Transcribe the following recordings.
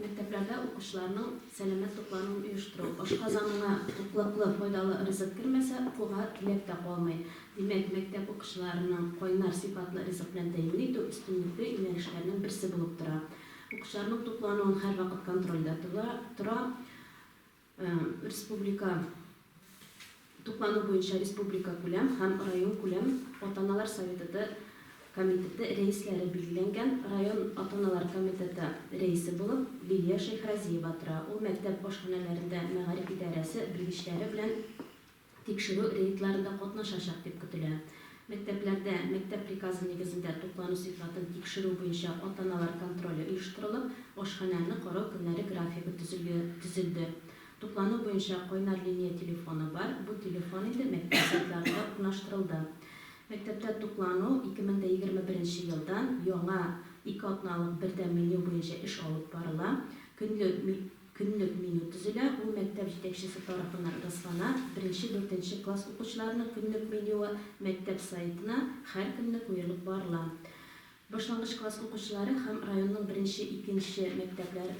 Мәктәпләрдә укучыларның сәламәт туклануын оештыру. Ашказаныңа туклыклы, файдалы ризык кермәсә, укуга теләк тә калмый. Димәк, мәктәп укучыларының кайнар сыйфатлы ризык белән тәэмин итү өстенлекле юнәлешләрнең берсе булып тора. Укучыларның туклануын һәрвакыт контрольдә тота тора. Республика туклану буенча республикакүләм һәм районкүләм ата-аналар советыты комитеты рәисләре билгеләнгән район ата-аналар комитеты рәисе булып Лилия Шәйхразиева тора. Ул мәктәп ашханәләрендә мәгариф идарәсе белгечләре белән тикшерү рейдларында катнашачак дип көтелә. Мәктәпләрдә мәктәп приказы нигезендә туклану сыйфатын тикшерү буенча ата-аналар контроле оештырылып, ашханәне карау көннәре графигы төзелде. Туклану буенча кайнар линия телефоны бар, бу телефон инде мәктәп сайтларында да урнаштырылды. Мәктәптә туклану 2021 елдан яңа ике атналык бердәм меню буенча эш алып барыла. Көнлек Көнлек меню төзелә, ул мәктәп җитәкчесе тарафыннан раслана. Беренче, дүртенче класс укучыларының көнлек менюы мәктәп сайтына һәр көнне куелып барыла. Башлангыч класс укучылары һәм районның беренче, икенче мәктәпләре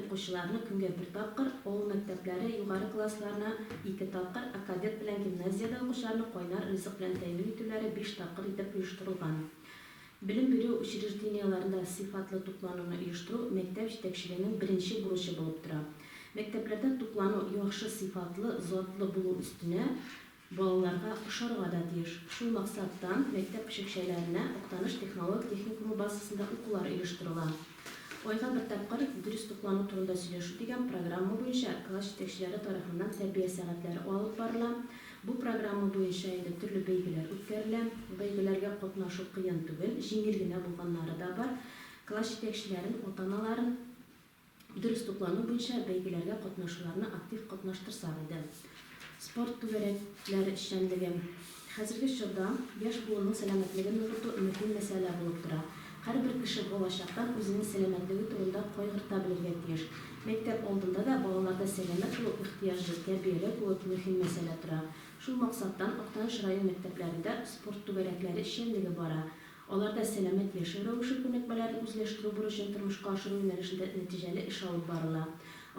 укучыларына көнгә бер тапкыр, авыл мәктәпләре, югары классларына ике тапкыр, ә кадет белән гимназиядә укучыларны кайнар ризык белән тәэмин итүләре биш тапкыр итеп оештырылган. Белем бирү учреждениеләрендә сыйфатлы туклануны оештыру мәктәп җитәкчелегенең беренче бурычы булып тора. Мәктәпләрдә туклану яхшы сыйфатлы, затлы булу өстенә, балаларга ошарга да тиеш. Шул максаттан мәктәп көчекчәләренә Актаныш технолог техникумы базасында укулар оештырыла. Айга бер тапкыр дөрес туклану турында сөйләшү дигән программа буенча класс җитәкчеләре тарафыннан тәрбия сәгатьләре алып барыла. Бу программа буенча инде төрле бәйгеләр үткәрелә. Бәйгеләргә катнашу кыен түгел, җиңел генә булганнары да бар. Класс җитәкчеләрен, ата-аналарын дөрес туклану буенча бәйгеләргә катнашуларны актив катнаштырсак иде. Спорт түгәрәкләре эшчәнлеге хәзерге чорда яшь буынның сәламәтлеген ныгыту мөһим мәсьәлә булып тора. Һәрбер кеше балачактан үзенең сәламәтлеге турында кайгырта белергә тиеш. Мәктәп алдында да балаларда сәламәт булу ихтыяҗы, тәрбияләү кебек мөһим мәсьәлә тора. Шул максаттан Актаныш район мәктәпләрендә спорт түгәрәкләре эшчәнлеге бара. Аларда сәламәт яшәү рәвеше күнекмәләрен үзләштерү бурычын тормышка ашыру юнәлешендә нәтиҗәле эш алып барыла.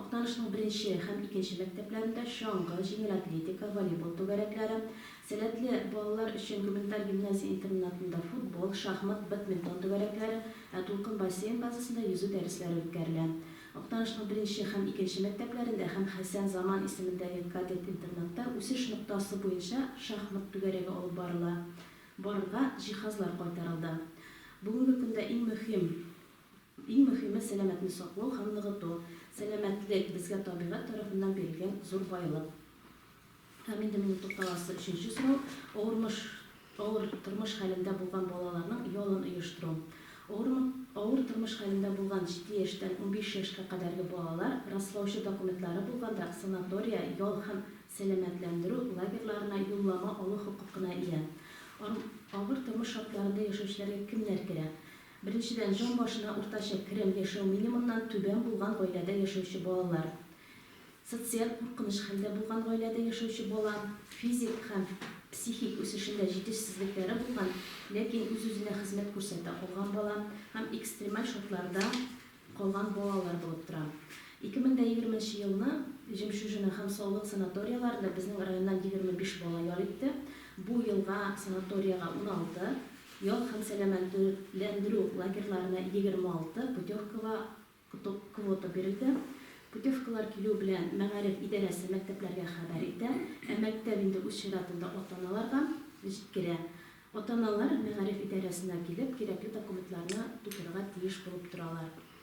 Актанышның беренче һәм икенче мәктәпләрендә чаңгы, җиңел атлетика, волейбол түгәрәкләре, сәләтле балалар өчен гуманитар гимназия-интернатында футбол, шахмат, бадминтон түгәрәкләре, ә Дулкын бассейн базасында йөзү дәресләре үткәрелә. Актанышның беренче һәм икенче мәктәпләрендә һәм Хәсән Заман исемендәге кадет-интернатта үсеш ноктасы буенча шахмат түгәрәге алып барыла. Барырга җиһазлар кайтарылды. Бүгенге көндә иң мөһим, иң мөһиме сәламәтне саклау һәм ныгыту. Сәламәтлек, безгә табигать тарафыннан бирелгән зур байлык. Һәм инде минем тукталасы өченче сорау, авырмыш, авыр тормыш хәлендә булган балаларның ялын оештыру. Авырмы, авыр тормыш хәлендә булган җиде яшьтән унбиш яшькә кадәрге балалар раслаучы документлары булганда санатория, ял һәм сәламәтләндерү лагерьларына юллама алу хокукына ия. Ар авыр тормыш шартларында яшәүчеләргә кемнәр керә? Беренчедән, җан башына уртача керем яшәү минимумнан түбән булган гаиләдә яшәүче балалар, социаль куркыныч хәлдә булган гаиләдә яшәүче бала, физик һәм психик үсешендә җитешсезлекләре булган, ләкин үз-үзенә хезмәт күрсәтә алган бала һәм экстремаль шартларда, калган балалар булып тора. 2020 нче елны Жемчужина һәм Саулык санаторияләрендә безнең районнан 25 бала ял итте, бу елга санаториягә 16, ял һәм сәламәтләндерү лагерьларына 26 путевкага квота бирелде. Путевкалар килү белән мәгариф идарәсе мәктәпләргә хәбәр итә, ә мәктәп инде үз чиратында ата-аналарга җиткерә. Ата-аналар мәгариф идарәсенә килеп, кирәкле документларны тутырырга тиеш булып торалар.